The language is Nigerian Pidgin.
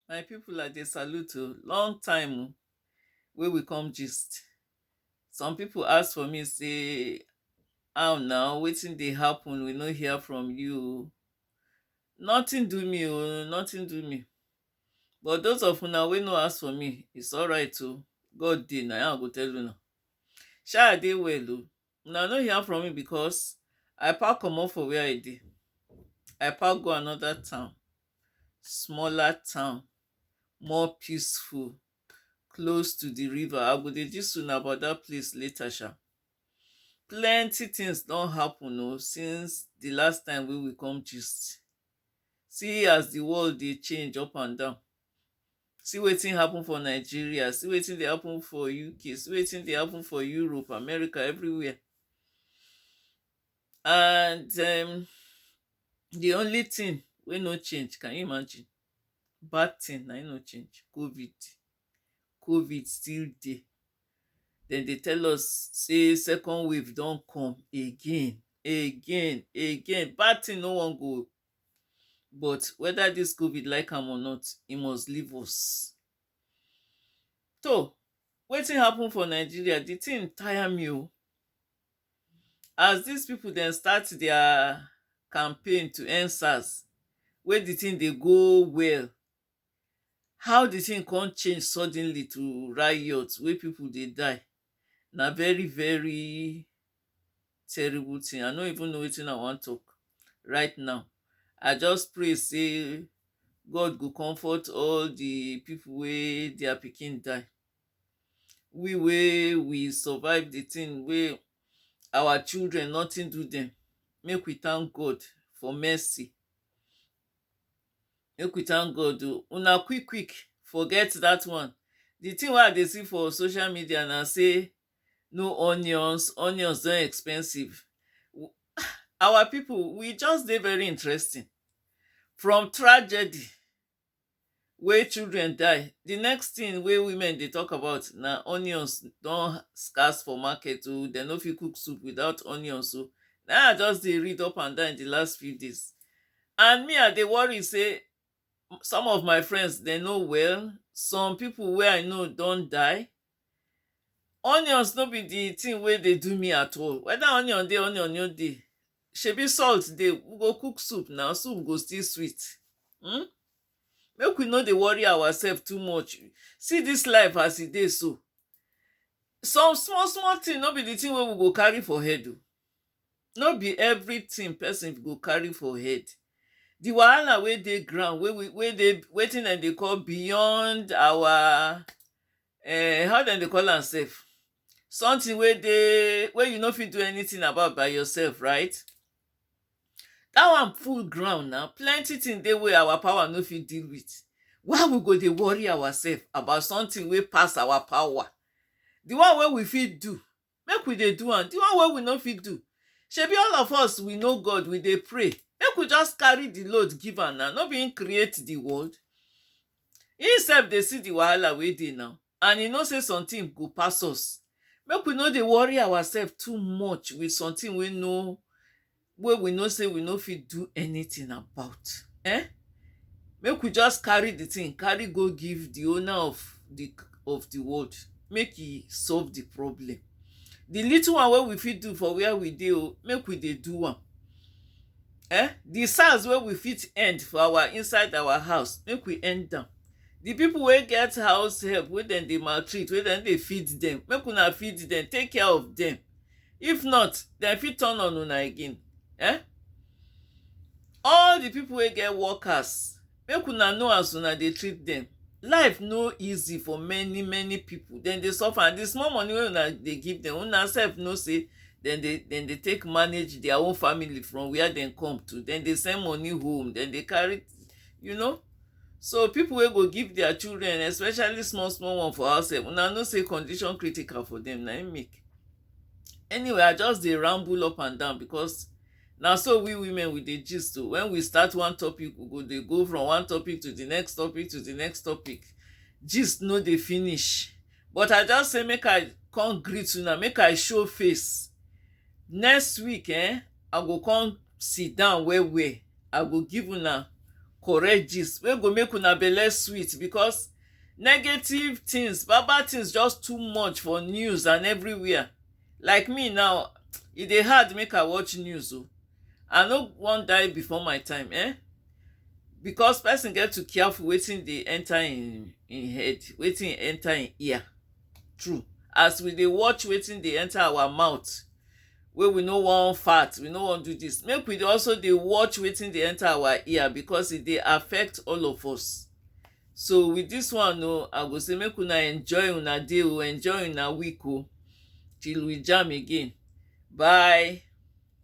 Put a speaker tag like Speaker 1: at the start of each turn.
Speaker 1: My people I dey salute oh, long time oh wey we come gist. Some people ask for me say how na, wetin dey happen we no hear from you oh. Nothing do me oh, nothing do me. But those of una wey no ask for me, it's alright oh, God dey na im I go tell una. Sha I dey well oh? Una no hear from me because I pack comot for where I dey. I pack go another town, smaller town, more peaceful, close to the river. I go dey gist una about that place later sha. Plenty things don happen o since the last time wey we come gist. See as the world dey change up and down. See wetin happen for Nigeria, see wetin dey happen for UK, see wetin dey happen for Europe, America, everywhere. And um, the only thing wey no change, can you imagine? Bad thing na im no change, COVID. COVID still dey. Dem dey tell us say second wave don come again, again, again. Bad thing no wan go, but weda dis covid like am or not e must leave us toh wetin happen for Nigeria di tin tire me o as dis people dem start dia campaign to end sars wey di tin dey go well How di tin come change suddenly to riot wey pipo dey die na very very terrible tin I no even know wetin I wan talk right now I just pray say God go comfort all di pipo wey dia pikin die we wey we survive di tin wey our children nothing do dem make we thank God for mercy Make we thank God oh. Una quick quick forget dat one. The thing wey I dey see for social media na sey no onions, onions don expensive. um Our people we just dey very interesting. From tragedy. wey children die the next thing wey women dey talk about na onions don scarce for market o dem no fit cook soup without onions o na I just dey read up and down in the last few days and me I dey worry say some of my friends dem no well some people wey I know don die Onions no be the thing wey dey do me at all. Whether onion dey onion no dey, shebi salt dey. We go cook soup na, soup go still sweet. um Make we no dey worry ourselves too much. See dis life as e dey so. Some small small thing no be the thing wey we go carry for head oh. No be everything person go carry for head The wahala wey dey ground wey we wey dey wetin dem dey call beyond our um how dem dey call am sef? Something wey dey wey you no fit do anything about by yourself right Dat one full ground na plenty things dey wey our power no fit deal with Why we go dey worry ourselves about something wey pass our power? The one wey we fit do make we dey do am, di one wey we no fit do shebi all of us we know God we dey pray make we just carry di load give am na, no be him create di world him sef dey see di wahala wey dey na and he know sey sometin go pass us make we no dey worry ourselves too much with sometin wey no wey we know sey we no fit do anything about um make we just carry the thing carry go give the owner of the of the ward make he solve the problem the little one wey we fit do for where we dey o make we dey do am um the sand wey we fit end for our inside our house make we end am the people wey get house help wey dem dey maltreat wey dem no dey feed dem make una feed dem take care of dem if not dem fit turn on una again eh all the people wey get workers make una know as una dey treat them life no easy for many many people dem dey suffer and the small money wey una dey give them una sef know say dem dey dem dey take manage their own family from where dem come to dem dey send money home dem dey carry you know so people wey go give their children especially small small one for house sef una know say condition critical for them na im make anyway i just dey ramble up and down because na so we women we dey gist o when we start one topic we go dey go from one topic to the next topic to the next topic gist no dey finish but i just say make i come greet una make i show face next week eh i go come sit down well well i go give una correct gist wey go make una belle sweet because negative things bad bad things just too much for news and everywhere like me now e dey hard make i watch news o i no wan die before my time eh because person get to careful wetin dey enter im im head wetin enter im ear true as we dey watch wetin dey enter our mouth wey we no wan fart we no wan do this make we dey also dey watch wetin dey enter our ear because e dey affect all of us So with this one o, I go say make una enjoy una day o, enjoy una week o till we jam again. Bye.